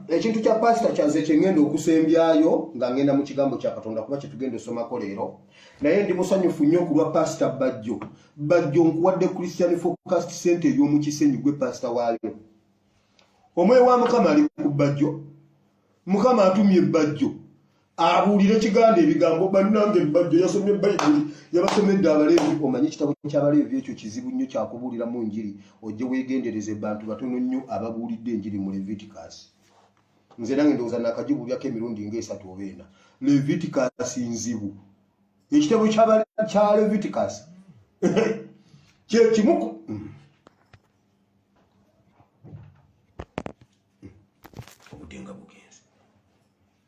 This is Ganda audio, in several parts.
ekintu kya pasita kyaze kyengenda okusembyayo nga ngenda mu kigambo kya katonda kuba kyetugenda osomako leero naye ndi musanyufu nnyo kulwa pasita bajjo bajjo nkuwadde christian focast center ey'omukisenyi gwe pasita waayo omwoyo wa mukama ali ku bajjo mukama atumye bajjo abuulire kiganda ebigambo bannange bbajjo yasomye bayibuli yabasomedde abaleevi omanye ekitabo ky'abaleevi ekyo kizibu nnyo kyakubuulira mu njiri ojje weegendereze bantu batono nnyo ababuulidde enjiri mu levitikasi nze nange ndowooza nakagibuulyako emirundi ngaesatu oba ena levitikasi nzibu ekitabo kya levitikasi kyekimu mm.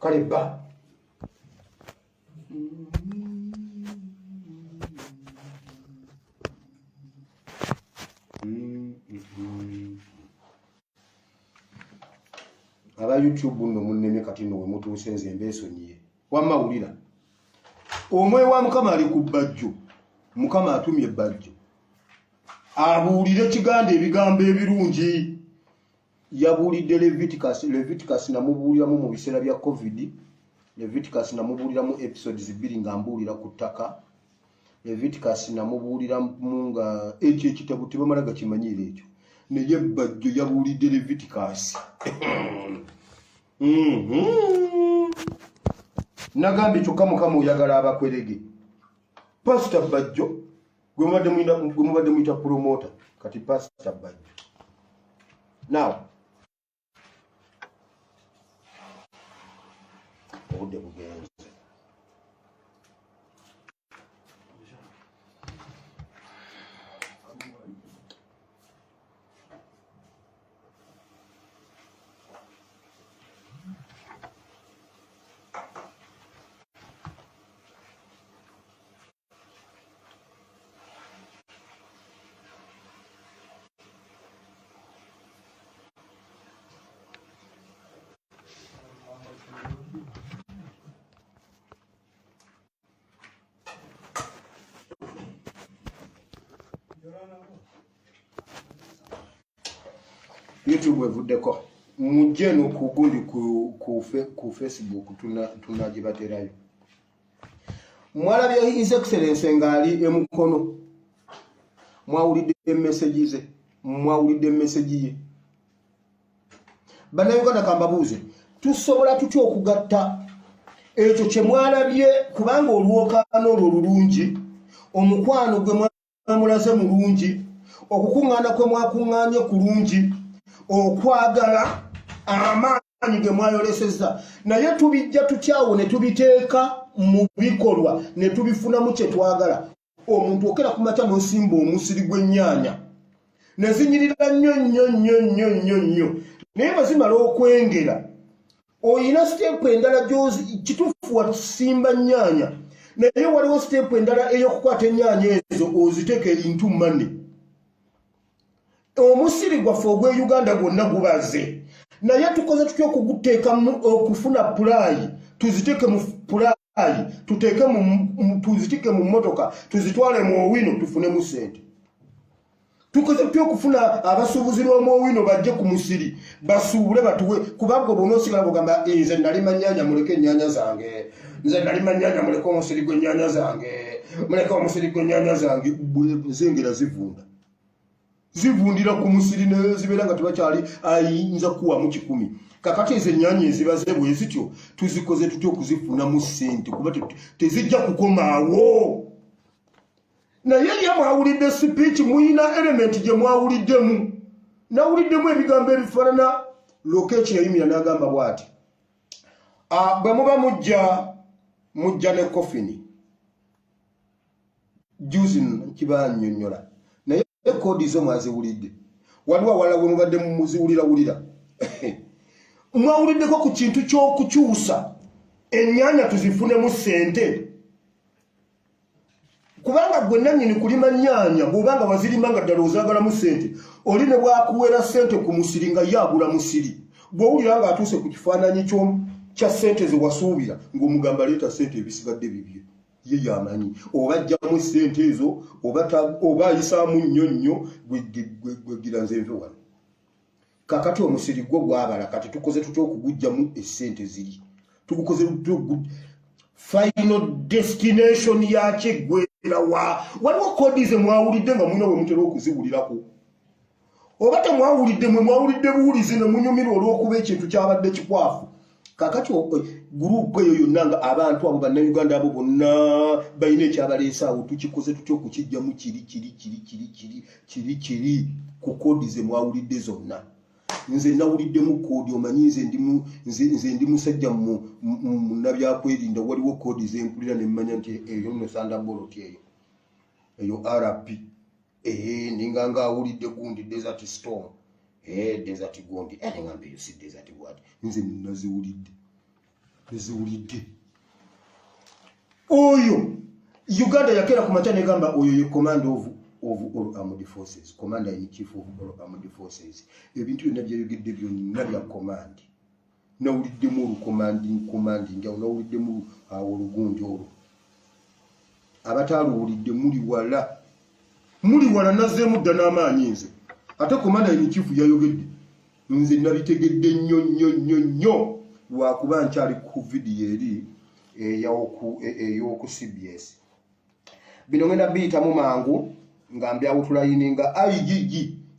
kale bba aba youtube nno munnemye kati nno wemutuuse nze mbeesonyiye wamma wulira omwoyo wa mukama ali ku bbajjo mukama atumye ebbajjo abuulire kiganda ebigambo ebirungi yabuulidde leviticus leviticus namubuuliramu mu biseera bya covid leviticus namubuuliramu episodes bbiri nga mbuulira ku ttaka leviticus namubuuliramu nga ekyo ekitabo tebamala gakimanyiira ekyo naye bajjo yabuulidde leviticus mhm. nagambye kyokka mukama oyagala abakwerege pasita bajjo gwe mubadde muyinda gwe mubadde muyita promoter kati pastor bajjo now obudde bugenze youtube evuddeko mujje nokugundi ku, ku, ku facebook tunagibaterayo tuna mwalabye his excellence ng'ali emukono mwawulidde emesegi ze mwawulidde emesegi ye bannayuganda kambabuuze tusobola tutya okugatta ekyo kye mwalabye kubanga olwokaano olwo olulungi omukwano gwe mulaze mulungi okukuŋŋaana kwe mwakuŋŋaanye kulungi okwagala amaanyi ge mwayolesezza naye tubijja tukyawo ne tubiteeka mu bikolwa ne tubifunamu kye twagala omuntu okera ku makya n'osimba omusiri gw'ennyaanya ne zinyirira nnyo nnyo nnyo nnyo nnyo nnyo naye bwe zimala okwengera oyina siteepu endala gyozi kituufu watusimba nnyaanya naye waliwo siteepu endala ey'okukwata ennyaanya ezo oziteeka entu mane omusiri gwaffe ogw'e uganda gwonna gubaze naye tukoze tutya okuguteeka okufuna pulaayi tuziteeke mu pulaayi ali tuteeke tuzitike mu mmotoka tuzitwale mu owino tufunemu sente tukoze tutya okufuna abasuubuzi lw'omuowino bajje ku musiri basuubule batuwe kubanga obona osigala bogamba eh, nze nali manyanya muleke enyanya zange nze nali manyanya muleke omusiri gwenyanya zange muleke omusiri gwenyanya zange zengera zivunda zivundira ku musiri nezibeera nga tebakyali ayinza kuwamu kikumi kakati ezo enyanya ezibaze bwezityo tuzikoze tutya okuzifunamu sente kuba tezijja kukomaawo naye ye mwawulidde sipiiki muyina elementi gye mwawuliddemu nawuliddemu ebigambo ebifaanana lwoka ekyo yayumira n'agamba bwati ah, bwe muba mujja mujja ne kofini juzi kibanyonyola naye kodi zo mwaziwulidde waliwo awalala bwe mubadde muziwulirawulira mwawuliddeko ku kintu ky'okukyusa ennyanya tuzifunemu ssente kubanga gwe nannyini kulima nyaanya bw'oba nga wazirima nga ddala ozaagalamu ssente oli ne bwakuwera ssente ku musiri nga ye agula musiri bw'owulira nga atuuse ku kifaananyi kya ssente ze wasuubira ng'omugamba leeta ssente ebisigadde bibye ye yamanyi oba ajjamu ssente ezo oba ayisaamu nnyo nnyo gwegira nze nve wano kakati omusiri gwo gwabala kati tukoze tutya okugujjamu esente ziri tugukoze final destination yakyegwera wa waliwo kodi ze mwawulidde nga mulina wemutera okuziwulirako oba temwawulidde mwe mwawulidde buwulizi ne munyumirwa olw'okuba ekintu kyabadde kikwafu kakati gurupu eyo yonna nga abantu abo bannayuganda abo bonna balina ekyabaleesa awo tukikoze tutya okukijjamu kiri kiri kiri kiri kiri kiri kiri ku koodi ze mwawulidde zonna nze nawuliddemu koodi omanyi nze ndi musajja munabyakwerinda waliwo koodi zempulira nemmanya nti eyo nosandaboloti eyo eyo rp Eee, eh, ninga nga awuli de gundi desert storm. Eee, eh, desert gundi. Eee, eh, ninga mbe yusi desert word. Nze ninazi uli de. Nze uli de. Oyo. Uganda ya kera kumata negamba oyo yu command of of all armed forces. Commander in chief of all armed forces. Ebintu yu nebya yu gidi biyo nabia command. Nawuliddemu olukomanding komanding awo nawuliddemu awo olugunja olwo abataaluwulidde muli wala muli wala nazeemu dda n'amaanyi nze ate komanda emikifu yayogedde nze nabitegedde nnyo nnyo nnyo nnyo lwakuba nkyali ku vidiyo eri ey'oku cbs bino ngenda biyitamu mangu nga mbyawutulayininga igg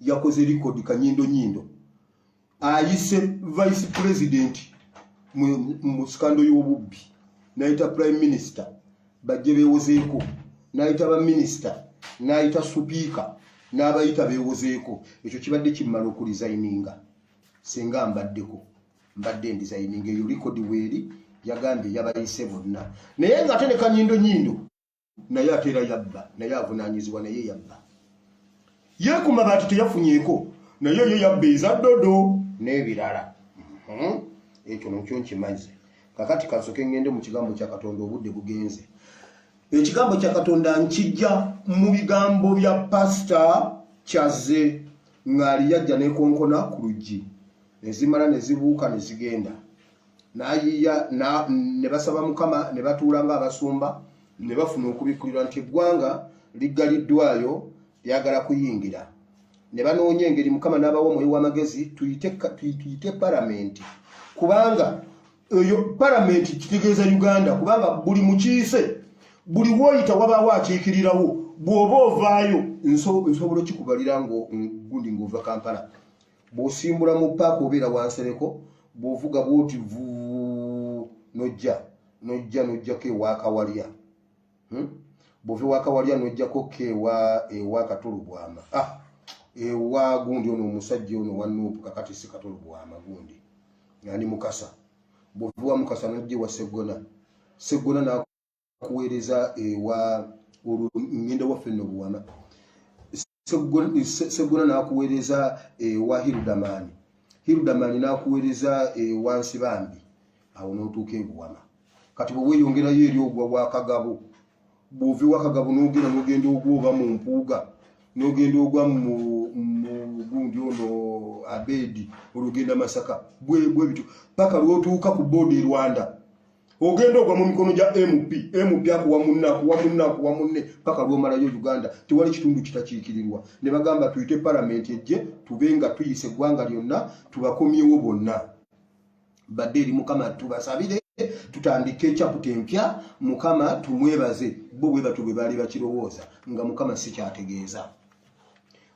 yakoze likodi kanyindo nyindo ayise vice president mu sikando y'obubbi nayita prime minister bajje bewozeeko nayita baminisita nayita supiika n'abayita bewozeeko ekyo kibadde kimmala okulizayininga singa mbaddeko mbadde ndizayininga eyo likodi weeri yagambye yabayise bonna naye nga ate ne kanyindo nyindo naye ate era yabba naye avunanyizibwa naye yabba yekuma bantu teyafunyeko naye yo yabba eza dodo n'ebirala mhm. ekyo nokyo nkimaze kakati kansoke ngende mu kigambo kya katonda obudde bugenze ekigambo kya katonda nkijja mu bigambo bya pasita kyaze ng'ali yajja nekonkona ku luggi nezimala nezibuuka nezigenda nayiya ne basaba mukama ne batuula nga abasumba ne bafuna okubikkulirwa nti eggwanga liggaliddwayo lyagala kuyingira ne banoonya engeri mukama n'abawa omwoyo w'amagezi tuyite paramenti kubanga eyo paramenti kitegeeza uganda kubanga buli mukiise buli woyita wabaawo akiikirirawo bw'oba ovaayo nsobola okikubalira ngundi ng'ova kampala bw'osimbula mu paaka obeera wansereko bw'ovuga bw'oti vuu nojja nojja nojjako ewakawalya hmm? bw'ova ewakawalya nojjako ko ewa ewa katolubwama ah, ewa gundi ono omusajja ono wanuupu kakati si katolubwama gundi ani mukasa bw'ova ewa mukasa nojja ewa seggona seggona kuweereza ewa olwo ngenda waffe nno buwama seggona n'akuweereza ewa hirudamaani hirudamaani n'akuweereza ewa nsibambi awo n'otuuka ebuwama kati bwe weeyongerayo eri ogwa wakagabo bw'ova ewakagabo n'ogenda n'ogenda ogwa oba mu mpuuga n'ogenda ogwa mu gundi ono abeedi olugenda masaka bwebityo paka lwotuuka ku boodi e rwanda ogenda ogwa mu mikono gya mp mp akuwa munne akuwa munne akuwa munne paka lwomalayo uganda tewali kitundu kitakiikirirwa ne bagamba tuyite palamenti ejje tube nga tuyise eggwanga lyonna tubakomyewo bonna badde eri mukama tubasabire tutandike ekyaputa empya mukama tumwebaze bo bwe batyo bwe baali bakirowooza nga mukama sikyategeeza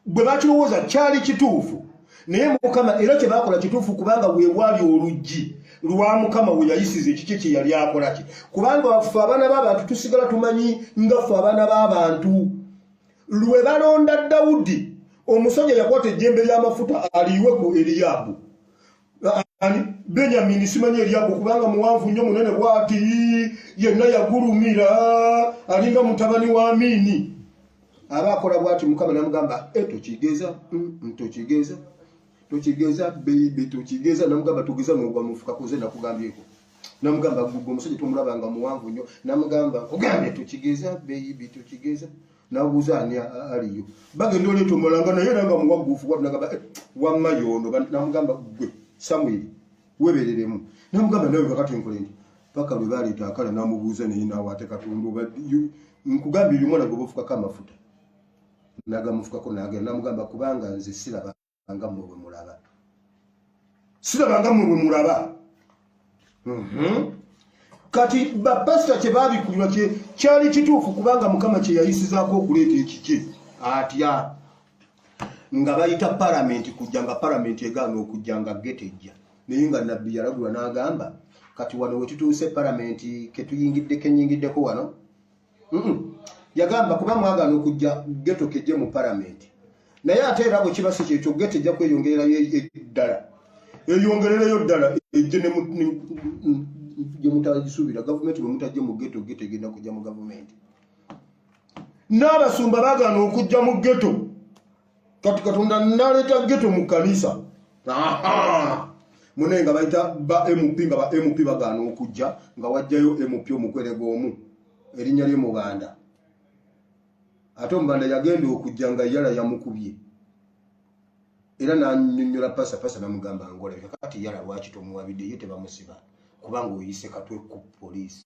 gwe bakirowooza kyali kituufu naye mukama era kyebakola kituufu kubanga wewali oluggi lwa mukama weyayisiza ekikye kyeyali akolaki kubanga waffe abaana b'abantu tusigala tumanyi nga ffe abaana b'abantu lwe balonda dawudi omusajja yakwata ejjembe ly'amafuta aliyiwe ku eriyaabu benyamini simanyi eryago kubanga muwanvu nnyo munene bwati yenna yagulumira alinga mutabani wa miini aba akola bwati mukama namugamba e tokigeza mm, tokigeza tokigeza beibe tokigeza namugamba tugeza nogwa mufukakoze nakugambyeko namugamba gugu omusajja tomulabanga muwanvu nnyo namugamba kugambye tokigeza beibe tokigeza nabuuza ani aliyo bagenda oleeta omulala nga naye era nga muwagguufu watu nagamba eh, wamma yoono namugamba gwe samwiri webereremu namugamba nawe kakati enkole nti paka lwe baleeta akala namubuuza naye nawaate katonda oba nkugambye oyo omwana gwe bafukako amafuta nagamufukako nagenda namugamba kubanga nze siraba banga mwe bwe mulaba sirabanga mwe bwe mulaba mhm. kati bapasita kyebabikulirwa kyali kituufu kubanga mukama kyeyayisizaako okuleeta ekikye atya nga bayita palamenti kujja nga palamenti egaana okujja nga getejja naye nga nabbi yalagulwa n'agamba kati wano wetutuuse palamenti ketuyingidde kenyingiddeko wano yagamba kuba mwagana okujja geto keje mu paramenti naye ate era bwe kiba si kyekyo geto ejja kweyongererayo e, e, ddala eyongerereyo ddala ejje gyemutagisuubira gavumenti bwe mutajje mu geto geto egenda kujja mu gavumenti n'abasumba bagana okujja mu geto kati katonda naleeta geto mu kanisa mune nga bayita ba mp nga ba mp bagaana okujja nga wajjayo mp omukwerega omu erinnya lye mubanda ate omubanda yagenda okujja nga yala yamukubye era nanyonyola pasa pasa namugamba ngolabika kati yala lwaki tomuwabidde ye tebamusiba kubanga oyise katwe ku poliisi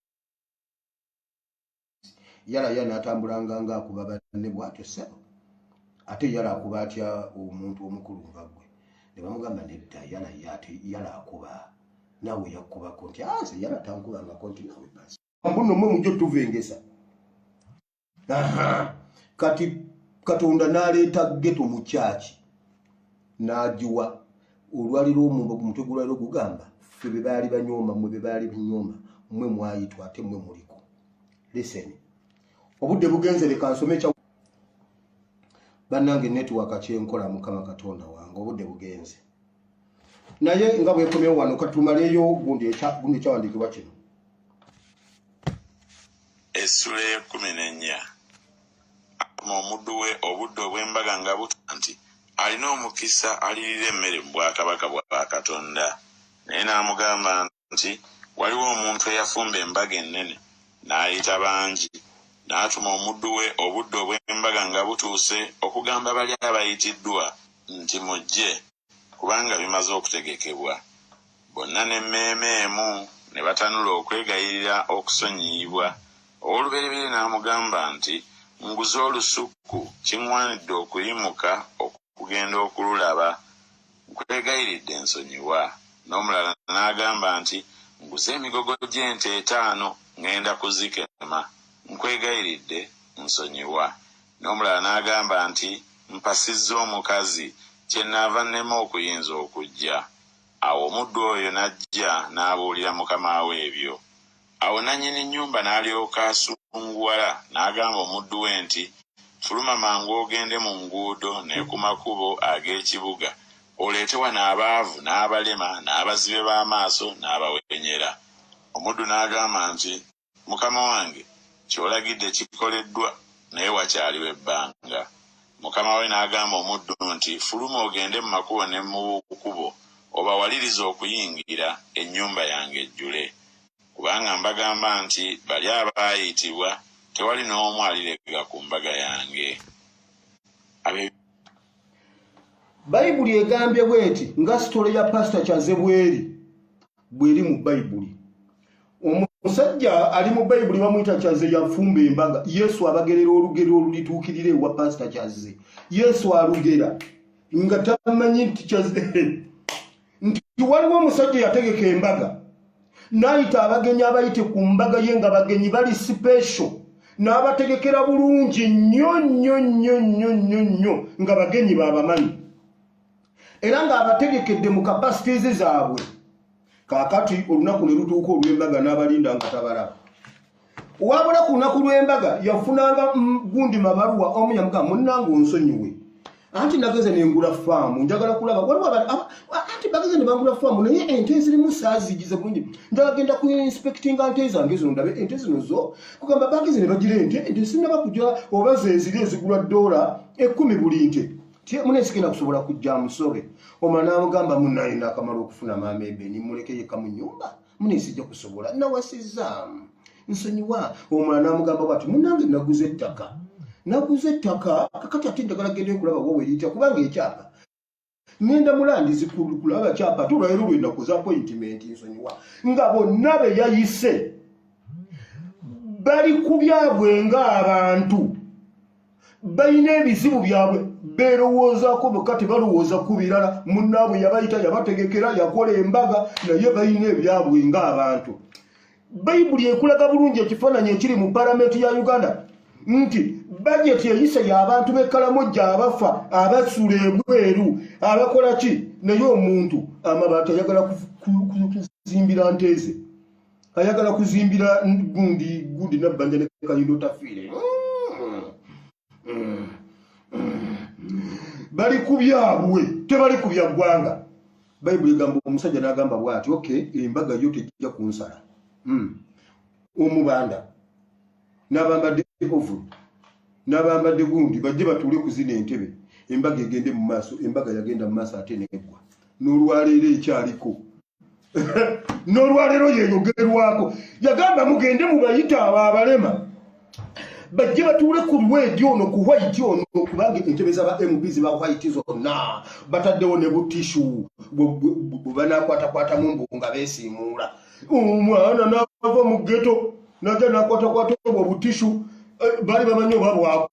yala ya natambulanga nga akuba banne bwatyo sebo ate yala akuba atya omuntu omukulu nga gwe ne bamugamba nedda yala ya ate yala akuba nawe yakubako nti aze ah, yala tankubangako nti nawe basi mbuno mwe mujo tuvengesa aha kati katonda naleeta geto mu kyaki nagiwa olwali lwomumba ku mutwe gulwaliro gugamba ffe be baali banyooma mwe be baali binyooma mwe mwayitwa ate mwe muliko liseni obudde bugenze leka nsome ekya bannange netiwaka kyenkola mukama katonda wange obudde bugenze naye nga bwekomyewo wano katumaleyo gundi ekyawandiikibwa kino essula ya kumi nenya Akuma omuddu we obudde obw'embaga nga butuuka nti, Alina omukisa alirira emmere mu bwakabaka bwa Katonda. Naye n'amugamba nti, Waliwo omuntu eyafumba embaga ennene, n'ayita bangi. N'atuma omuddu we obudde obw'embaga nga butuuse okugamba bali abayitiddwa nti, Mujje. Kubanga bimaze okutegekebwa, bonna n'emmeeme emu ne batanula okwegayirira okusonyiyibwa, ow'olubereberye n'amugamba nti, Nguze olusuku, kiŋŋwanidde okuyimuka okugenda okululaba, nkwegayiridde nsonyiwa. N'omulala n'agamba nti, Nguze emigogo gy'ente etaano, ŋŋenda kuzikema, nkwegayiridde nsonyiwa. N'omulala n'agamba nti, Mpasizza omukazi, kyennaava nnema okuyinza okujja. Awo omuddu oyo n'ajja n'abuulira mukama we ebyo. Awo nannyini nnyumba n'alyoka asunguwala, n'agamba omuddu we nti, Fuluma mangu ogende mu nguudo ne ku makubo ag'ekibuga, oleete wano abaavu, n'abalema, n'abazibe b'amaaso, n'abawenyera. Omuddu n'agamba nti, Mukama wange, ky'olagidde kikoleddwa, naye wakyaliwo ebbanga. Mukama we n'agamba omuddu nti, Fuluma ogende mu makubo ne mu bukubo, obawalirize okuyingira, ennyumba yange ejjule. Kubanga mbagamba nti, Bali abaayitibwa, tewali n'omu aliregga ku mbaga yange. Abe. Bayibuli egambye bw'eti, nga sitole ya Pasita Kyazze bw'eri. bweri mu bayibuli omusajja ali mu bayibuli bamuyita kyaze yafumba embaga yesu abagerera olugero olulituukirira ewa pasita kyaze yesu alugera nga tamanyi nti kyaze nti waliwo omusajja yategeka embaga nayita abagenyi abayite ku mbaga ye nga bagenyi bali sipesho n'abategekera bulungi nnyo nnyo nnyo nnyo nnyo nnyo nga bagenyi baabamanyi era ng'abategekedde mu kapasitiizi zaabwe kaakati olunaku ne lutuuka olw'embaga n'abalinda nga tabalaba wabula ku lunaku lw'embaga yafunanga gundi mabaluwa omu yamugaa munnanga onsonyiwe anti nageze nengula faamu njagala kulaba waliwo anti bageze ne bangula faamu naye ente zirimu saazigize bulungi njagala genda ku inspectinga nte zange zino ndabe ente zino zo kugamba bageze ne bagira ente ente sinaba kujala oba zeziri ezigula doola ekkumi buli nte mune sigenda kusobola kujja amusore omala namugamba munaye nakamala okufuna maama ebeni muleke yeka mu nyumba mune sijja kusobola nawasizaamu nsonyiwa omala namugamba bwati munange naguza ettaka naguza ettaka kakati ate njagala genda ekulaba wowe eriyita kubanga ekyapa ngenda mulandizi kulaba kyapa ate olwalero lwenakuza appointment nsonyiwa nga bonna beyayise bali kubyabwe ng'abantu balina ebizibu byabwe beerowoozaako bokka tebalowooza ku birala munnaabwe yabayita yabategekera yakola embaga naye balina ebyabwe ng'abantu bayibuli ekulaga bulungi ekifaananyi ekiri mu palamenti ya uganda nti bajeti eyise y'abantu b'ekkalamu gy'abafa abasuula ebweru abakola ki naye omuntu amabaati ayagala kuzimbira nteeze ayagala kuzimbira gundi gundi nabbanja ne kalindo tafiire bali ku byabwe tebali ku bya ggwanga bayibuli egamba omusajja n'agamba bwati ok embaga yo tejja ku nsala hmm. omubanda n'abambadde ovu n'abambadde gundi bajje batuule kuzina entebe embaga egende mu maaso embaga yagenda mu maaso ate neggwa n'olwaleero ekyaliko nolwaleero yeyogerwako yagamba mugende mubayita abo abalema bajje batuule ku lwedi ono ku white ono kubanga entebe zaba mp ziba white zonna bataddewo ne butishu bwebanaakwatakwatamu mbu nga besiimuula omwana naava mu geto naja nakwatakwata obwo butishu eh, baali bamanyi oba bwako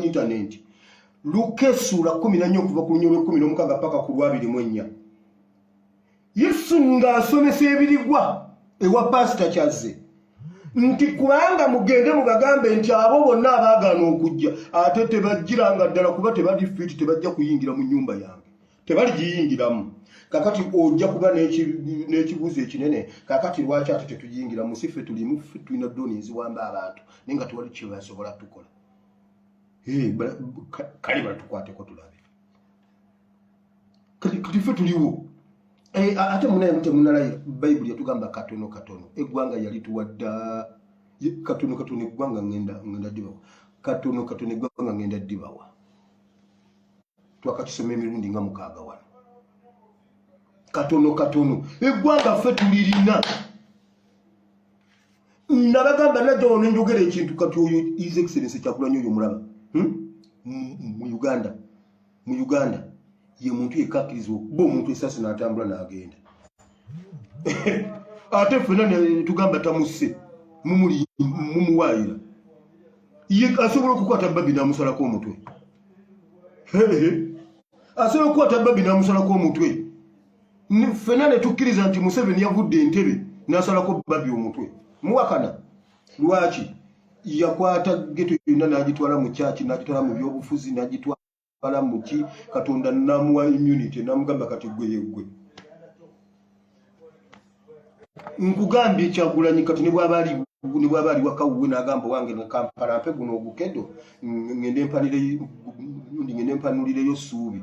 intanenti luka essuula kumi nanya okuva ku lunya olwekumi n'omukaaga paka ku lwabiri mu ennya yesu ng'asomesa ebirigwa ewa paasita kyazze nti kubanga mugende mubagambe nti abo bonna abaagaana okujja ate tebajjiranga ddala kuba tebali fiiti tebajja kuyingira mu nnyumba yange tebaligiyingiramu kakati ojja kuba n'ekibuuzo ekinene kakati lwaki ate tetuyingira musife tulimu tulina doni eziwamba abantu naye nga tewali kyebasobola tukola kale batukwateko tulabe kati fe tuliwo eh, ate munaye mutemunalaye bayibuli yatugamba katono katono eggwanga yali tuwadda katono katono eggwanga ngenda dibawa katono katono eggwanga ngenda dibawa twakakisoma emirundi nga mukaaga wano katono katono eggwanga fe tulirina nabagamba najja wano njogera ekintu kati oyo his excellence kyakulanya oyo mulaba hmm? mu uganda mu uganda ye muntu yekakirizibwa okuba omuntu esasi natambula nagenda ate fena tugamba tamusse mumuwayira ye asobola okukwata babi namusalako omutwe asobola okukwata babi namusalako omutwe ffena ne tukkiriza nti museveni yavudde entebe n'asalako babi omutwe muwakana lwaki yakwata geto yonna n'agitwala mu kyaki n'agitwala mu byobufuzi n'agitwala mu ki katonda namuwa immunity namugamba kati gwe yeggwe nkugambye kyagulanyi kati ne bwaba ali ne bwaba ali wakawuwe n'agamba wange nekampala mpe guno ogukedo ngende mpanireyo suubi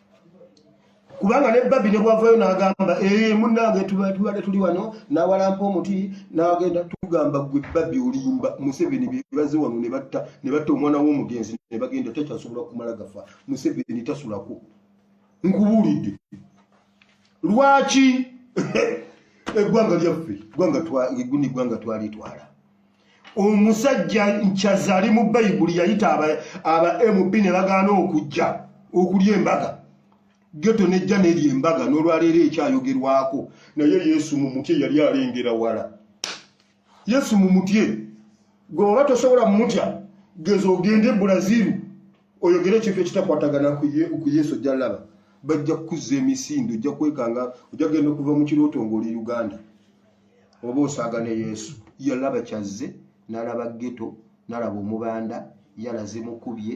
kubanga ne babi ne bwavayo n'agamba ee eh, munange tubadde tuli wano n'awalampa omuti n'agenda tugamba gwe babi olimba museveni bebaze wano ne batta ne batta omwana w'omugenzi ne bagenda tekyasobola kumala gafa museveni tasulako nkubuulidde lwaki eggwanga lyaffe gwanga twali twala omusajja nkyaza ali mu bayibuli yayita aba mp ne bagaana okujja okulya embaga geto nejja nerya embaga n'olwaleero ekyayogerwako naye yesu mu mutye yali alengera wala yesu mu mutye gwe oba tosobola mumutya geza ogende bulaziru oyogera ekintu ekitakwatagana ku yesu ojja laba bajja kukuzza emisinde ojja kwekanga ojja kugenda okuva mu kirooto ngaoli uganda oba osaaga ne yesu yalaba kyazze nalaba geto nalaba omubanda yalaze mukubye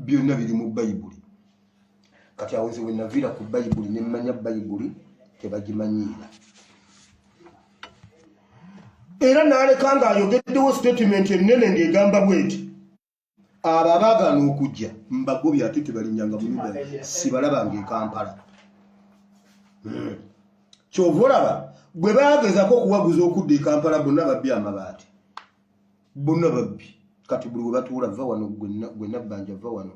byonna biri mu bayibuli kati awo nze wenaviira ku bayibuli nemmanya bayibuli tebagimanyiira era naleka nga ayogeddewo sitatimenti ennene ng'egamba bweti abo abaagaana okujja mbagobi ate tebalinyanga muyuda sibalabanga ekampala hmm. kyova olaba bwe bagezako okuwaguza okudda ekampala bonna babbi amabaati bonna babbi kati buli webatuula va wano gwe nabbanja va wano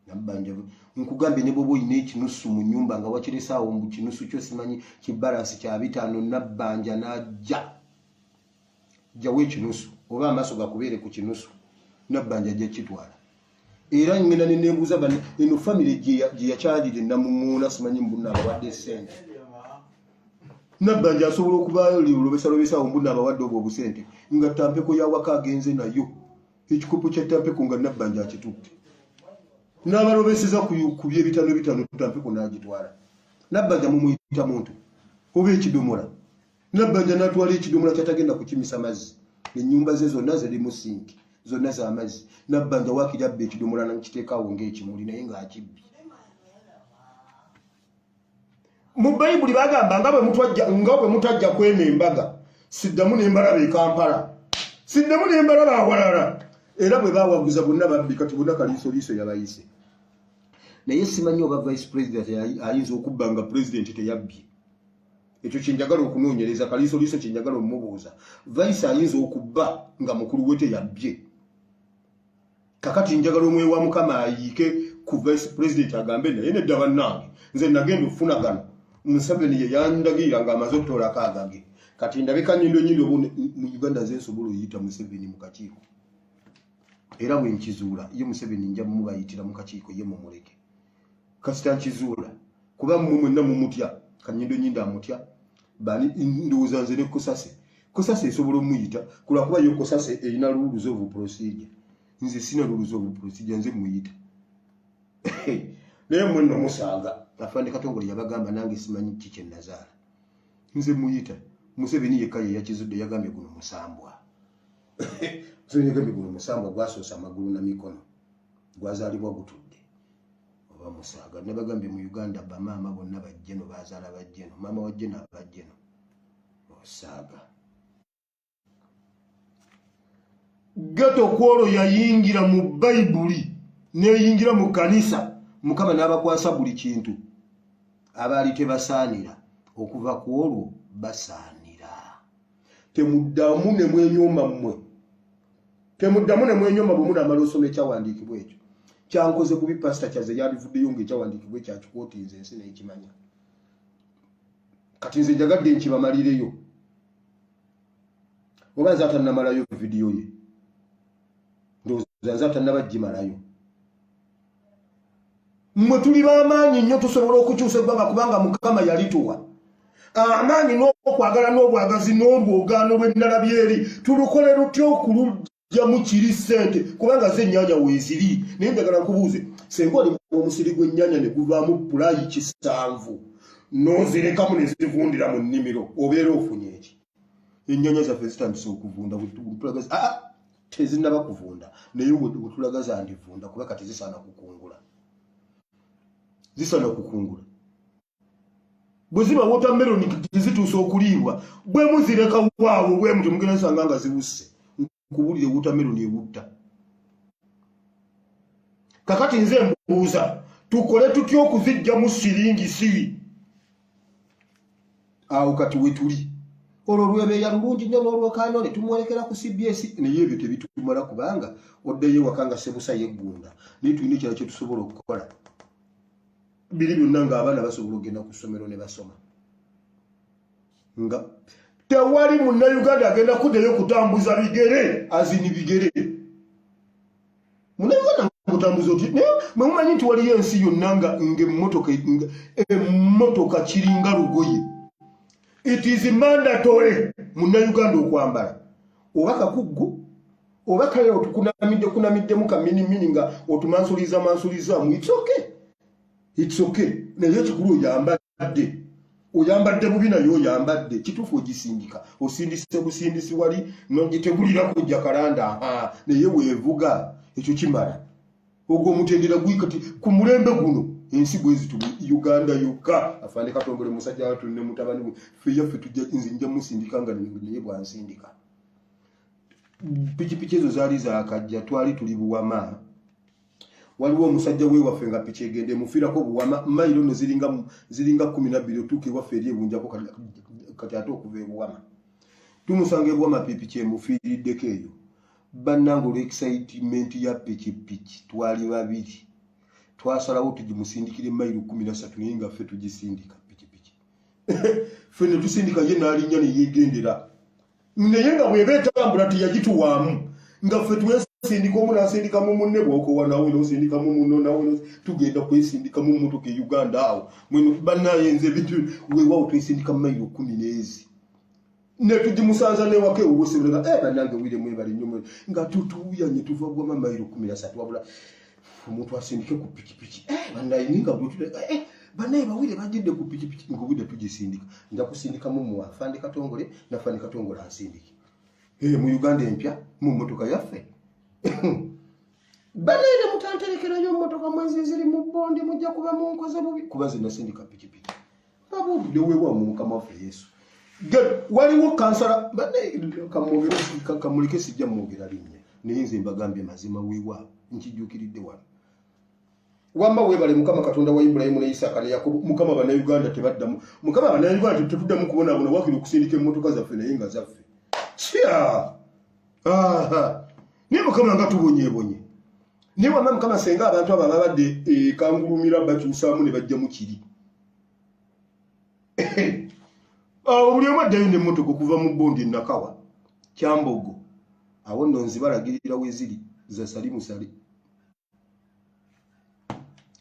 nabanja nkugambye ne bwoba olina ekinusu mu nyumba nga wakiresaawo mbu kinusu kyo simanyi kibalansi kya bitaano nabbanja najja jjawo ekinusu oba amaaso gakubeere ku kinusu nabbanja ajja kitwala era ngenda nenebuuza bana eno famiry gyeyakyalire namuŋuuna simanyi mbuna abawadde sente nabbanja asobola okuba lolobesalobesawo mbuna abawadde obwo obusente nga tampeko yawaka agenze nayo ekikopo kya tampeko nga nabbanja akitutte n'abalobeseza ku byebitano bitano tampeko n'agitwala nabbanja mumuyita muntu oba ekidomola nabbanja n'atwala ekidomola kyatagenda kukimisa mazzi enyumba ze zonna zirimu sinki zonna zamazzi nabbanja wakiri abba ekidomola nakiteekaawo ngaekimuli naye ng'akibbye mu bayibuli bagamba nga bwe mutwajja nga bwe mutajja kwema embaga siddamu n'embalaba e kampala siddamu n'embalaba awalala era bwe bawaguza bonna babbi kati bonna kaliisoliiso yabayise naye simanyi oba vice president ayinza okubba nga pulezidenti teyabbye ekyo kyenjagala okunoonyereza kaliisoliiso kyenjagala omubuuza vice ayinza okubba nga mukulu we teyabbye kakati njagala omwe wa mukama ayiike ku vice president agambe naye nedda bannange nze nagenda okufuna gano museveni ye yandagirira nga amaze okutoolako agage kati ndabika nyindo nyindo bu mu uganda nze nsobola oyita museveni mu kakiiko era bwe nkizuula ye museveni nja mubayitira mu kakiiko ye mumuleke kasita nkizuula kuba mumwenna mumutya kanyindo nyindo amutya bali ndowooza nze ne kosase kosase esobola omuyita kulwakuba yo kosase erina luluza ovu procedure nze sina luluza ovu procedure nze muyita naye mwe nno musaaga afande katongole yabagamba nange simanyi ki kye nazaala nze muyita museveni yekka ye yakizudde yagambye guno musambwa museveni yagambye guno musambwa gwasoosa amagulu na mikono gwazalibwa gutudde oba musaaga nabagambye mu uganda bamaama bonna bajjeno bazala bajjeno maama wajjeno abajjeno osaaga geto kwolwo yayingira mu bayibuli neyingira mu kanisa mukama n'abakwasa buli kintu abaali tebasaanira okuva ku olwo basaanira temuddamu ne mwenyooma mmwe temuddamu ne mwenyooma bwe munaamala osoma ekyawandiikibwa ekyo kyankoze kubi pasita kyaze yabivuddeyo ngaekyawandiikibwa ekyakikoti nze ensi nekimanya kati nze njagadde nkibamalireyo oba nze atanamalayo vidiyo ye ndowooza nze atanaba gimalayo mwe tuli bamaanyi nnyo tusobola okukyusa eggwanga kubanga mukama yalituwa amaanyi n'okwagala n'obwagazi n'olwogaano lw'endala byeri tulukole lutya okulugyamu kiri ssente kubanga ze ennyanya weeziri naye njagala nkubuuze senga oli omusiri gw'ennyanya ne guvaamu pulayi kisanvu n'ozirekamu ne zivundira mu nnimiro obeera ofunye eki ennyanya zaffe zitandise okuvunda bwetulaga ah, ah, tezinaba kuvunda naye wetulaga zandivunda kuba kati zisaana kukungula zisaana kukungula bwe ziba wotameroni tezituusa okuliibwa bwe muzireka waawo bwe mutyo mugenda zisanga nga ziwusse nkubulire wutameroni ewutta kakati nze mbuuza tukole tutya okuzijjamu siringi siwi awo kati wetuli olwo lwebeeya lulungi nnyo n'olwokaano ne tumwolekera ku cbs naye ebyo tebitumala kubanga oddeyo ewaka nga sebusa yeggunda naye tulina ekirala kye tusobola okukola biri byonna ng'abaana basobola okugenda ku ssomero ne basoma nga tewali munnayuganda agenda kuddayo kutambuza bigere azini bigere munnayuganda mutambuza oti naye mwe mumanyi nti waliyo ensi yonna nga ngaemmotoka emmotoka kiringa lugoye it is mandatory munnayuganda okwambala oba kakuggu oba kale otukunamidde kunamiddemu kaminimini nga otumansuliza mansulizamu it's okay it's okay naye ekikulu oyambala oyambadde oyambadde bubi naye oyambadde kituufu ogisindika osindise busindisi wali nogitegulira kujja kalanda naye wevuga ekyo kimala ogwo omutendera gwikati ku mulembe guno ensi bwezitu uganda yokka afande katongole musajja watu ne mutabani we feyaffe tujja nze nja musindika nga naye bwansindika pikipiki ezo zaali zakajja twali tuli buwama waliwo omusajja wewaffe nga piki egende mufirako buwama mailo no ziringa ziringa 12 otuuka ewaffe eri ebunjako kati ate okuva ebuwama tumusanga ebuwama pipi kyemufiiriddeko eyo bannanga olwexcitement ya pikipiki twali babiri twasalawo tugimusindikire mailo 13 naye nga ffe tugisindika pikipiki ffe netusindika ye nalinnya neyegendera naye nga bweba etambula teyagituwaamu nga ffe twesindika omu nasindika mu munne bwokowa nawe nosindika mu muno nawe tugenda kwesindika mu mmotoka e uganda awo mweno banaye nze bintu wewawo twesindika mu mayiro kumi neezi netugimusanza newaka ewuwosebulaga e eh, banange wire mwebali nyo nga tutuuyanye tuva gwama mayiro kumi nasatu wabula omuntu asindike ku pikipiki eh, banayininga gwetuleka eh, banaye bawire bagedde ku pikipiki nga obudde tugisindika nja kusindika mumu afande katongole nafande katongole asindike eh, mu uganda empya mu motoka yaffe banaye ne mutanterekerayo motoka mwezi ziri mu bonde mujja kuba munkoze bubi kuba zinasindika pikipiki babuulire wewamu mukama waffe yesu waliwo kansala kamuleke sijja mwogera linnya naye nze mbagambye mazima wewaabo nkijuukiridde wano wamba webale mukama katonda wa ibulayimu ne isaaka ne yakobo mukama banauganda tebaddamu mukama banauganda tetuddamu kubonabona wakiri okusindika emmotoka zaffe naye nga zaffe kya naye mukama nga tubonyebonye naye wama mukama senga abantu abo ababadde ekangulumira bakyusaamu ne bajjamu kiri awo buli omu addayo nemmotoka okuva mu bondi nakawa kyambogo awo nno nzibalagirira weziri zasali musale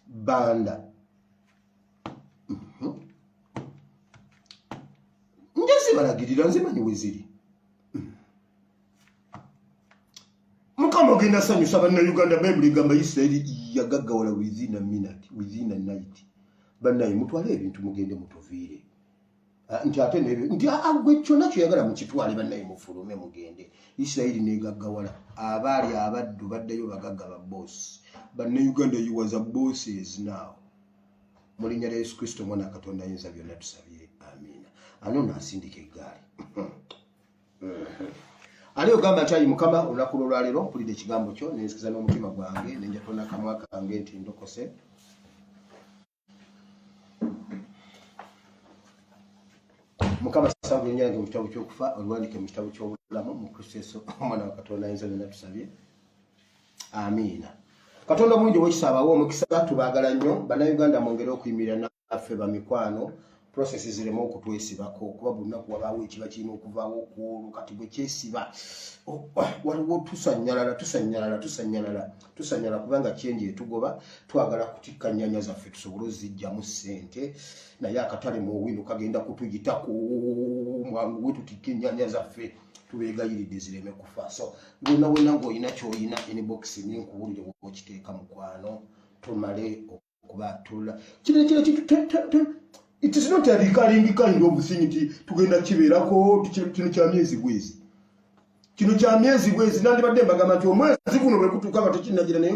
banda mhm. njazibalagirira nzimanyi weziri mhm. mukama ogenda sanyusa bannayuganda bayibuli egamba isirairi yagaggawala within a minute within a night bannaye mutwale ebintu mugende mutuviire ah, nti ate nebe nti agwe ah, ah, kyonna kyoyagala mukitwale bannaye mufulume mugende isirairi negaggawala abaali abaddu baddayo bagagga ba boosi bannayuganda yiwaza boosi is now mu linnya lya yesu kristo omwana katonda ayinza byonna tusabye amiina anoono asindika eggaali ali ogamba nti ayi mukama olunaku lwolwaleero mpulidde ekigambo kyo nenzikiza n'omutima gwange nenjatona kamwa kange nti ndokose mukama sasabu enyange mu kitabo kyokufa oluwandike mu kitabo kyobulamu mu kristo yesu omwana wa katonda ayinza byonna tusabye amiina katonda omulungi owekisaabawo omukisa tubagala nnyo bannayuganda mwongere okuyimirira affe bamikwano process zireme okutwesibako kuba bunaku wabaawo ekiba kirina okuvaawo okwolwo kati bwekyesiba waliwo tusanyalala tusanyalala tusanyalala tusanyala kubanga kyenji etugoba twagala kutikka nyanya zaffe tusobole ozijjamu ssente naye akatale muowino kagenda kutuyitako mwangu we tutikka enyanya zaffe tubeegayiridde zireme kufa so wena wena ngaolina kyoyina inbox ninkuwulire okiteeka mukwano tumale kubatula kino kino it is not a recurring kind of thing nti tugenda kibeerako kino kya myezi bwezi kino kya myezi bwezi nandibadde mbagamba nti omwezi guno bwe gutuuka nga tekinnagira naye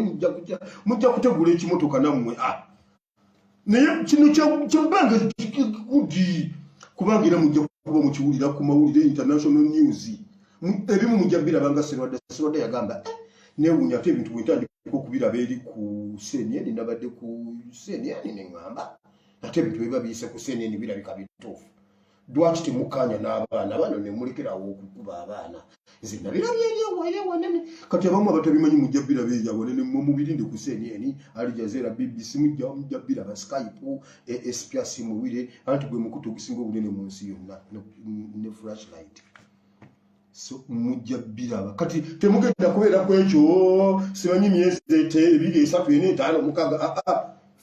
mujja kutegula ekimotoka nammwe a ah. naye kino kyabbanga gudi kubanga era mujja kuba mukiwulira ku mawulire international news ebimu mujja biraba nga sirwadde sirwadde yagamba eh, newunya ate ebintu bwentandika okubiraba eri ku seniyeni nabadde ku seniyeni neŋamba ate ebintu biba biyise ku seniyeni birabika bituufu lwaki temukaanya n'abaana bano nemulekerawo okukuba abaana nze nabirabye eri ewayo ewanene kati abamu abatabimanyi mujja biraba eri awanene mwe mubirinde ku seniyeni alijazeera bbc mujja mujja biraba skype e, espia simuwire anti gwe mukutu ogusinga obunene mu nsi yonna ne flashlight mujja biraba kati temugenda kubeera ku ekyo simanyi myezi ebiri esatu ena etaano mukaga aa ah, ah,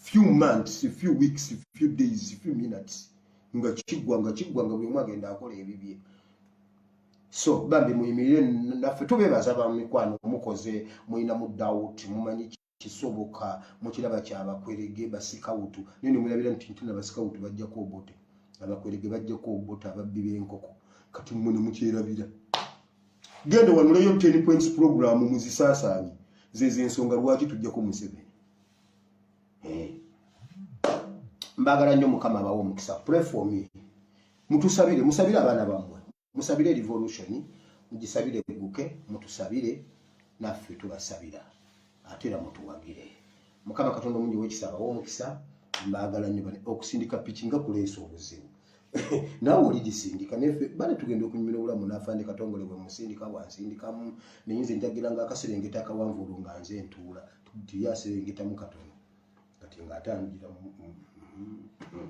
few months few weeks few days few minutes nga kiggwa nga kiggwa nga buli omu agenda akola ebibye so bambi muyimirire naffe tubeebaza bamikwano mukoze mulina mu dawuti mumanyi kisoboka mukiraba kyabakwerege basikawutu naye nemulabira nti ntuna basikawutu bajjako obote abakwerege bajjako obote ababbi benkoko kati mune mukyerabira genda wanuleyo ten points program muzisaasaanye zezo ensonga lwaki tujjako museveni eh. mbagala nnyo mukama abawo omukisa pray for me mutusabire musabire abaana bamwe musabire revolution mugisabire eguke mutusabire naffe tubasabira ate era mutuwagire mukama katonda omungi wekisa abawa omukisa mbaagala nyo bane okusindika piki nga kuleesa obuzibu nawe oli gisindika nefe bane tugenda okunyumira obulamu nafande katongole bwe musindika bwansindikamu naye nze njagira nga akaserengeta akawanvuulu nga nze ntuula tuyaserengetamu katono kati nga atangira mm, mm, mm.